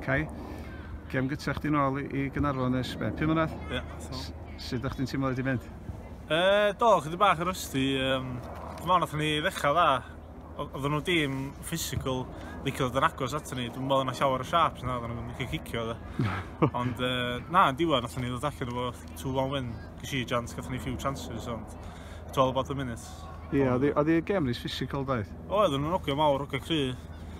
Cai, gem gytra chdi nôl i, i Gynarfon nes be, pum mlynedd? Ie, yeah, so. Sut ydych chi'n teimlo wedi mynd? E, do, chydig bach yn rysdi. Um, Dwi'n meddwl nath ni ddechrau dda. Oedden nhw dim physical, licio dod yn agos ato ni. Dwi'n meddwl yna llawer o sharps na, oedden nhw'n licio cicio dda. ond e, na, yn diwedd, nath ni ddod allan efo 2-1 win. Gysi i jans, gath ni few chances, ond it's all about the minutes. Ie, yeah, oedd y gem rhys physical daeth? Oedd, oedden nhw'n ogio mawr, ogio cry.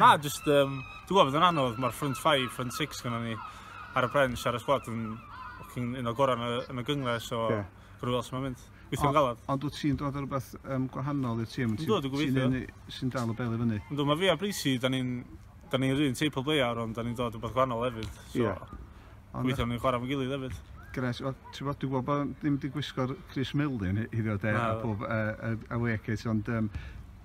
Na, just, um, dwi'n gwybod bod yn anodd, mae'r front 5, front 6 gyda ni ar y bench, ar y sgwad yn un o gorau yn y gyngor, so yeah. rwy'n os mae'n mynd. Gweithio'n galad. Ond wyt ti'n dod ar rhywbeth um, gwahanol i'r tîm? Ynddo, dwi'n gobeithio. Sy'n dal y bel i fyny? Ynddo, mae fi a Brisi, da ni'n da ni'n rhywun teipl bleiar, ond da ni'n dod rhywbeth gwahanol hefyd. So, yeah. Gweithio'n ni'n chwarae fo'n gilydd hefyd. Gres, o, ti'n bod, dwi'n gwybod bod ddim wedi gwisgo'r Chris Milden hyd o de, a pob uh, away kit, ond um,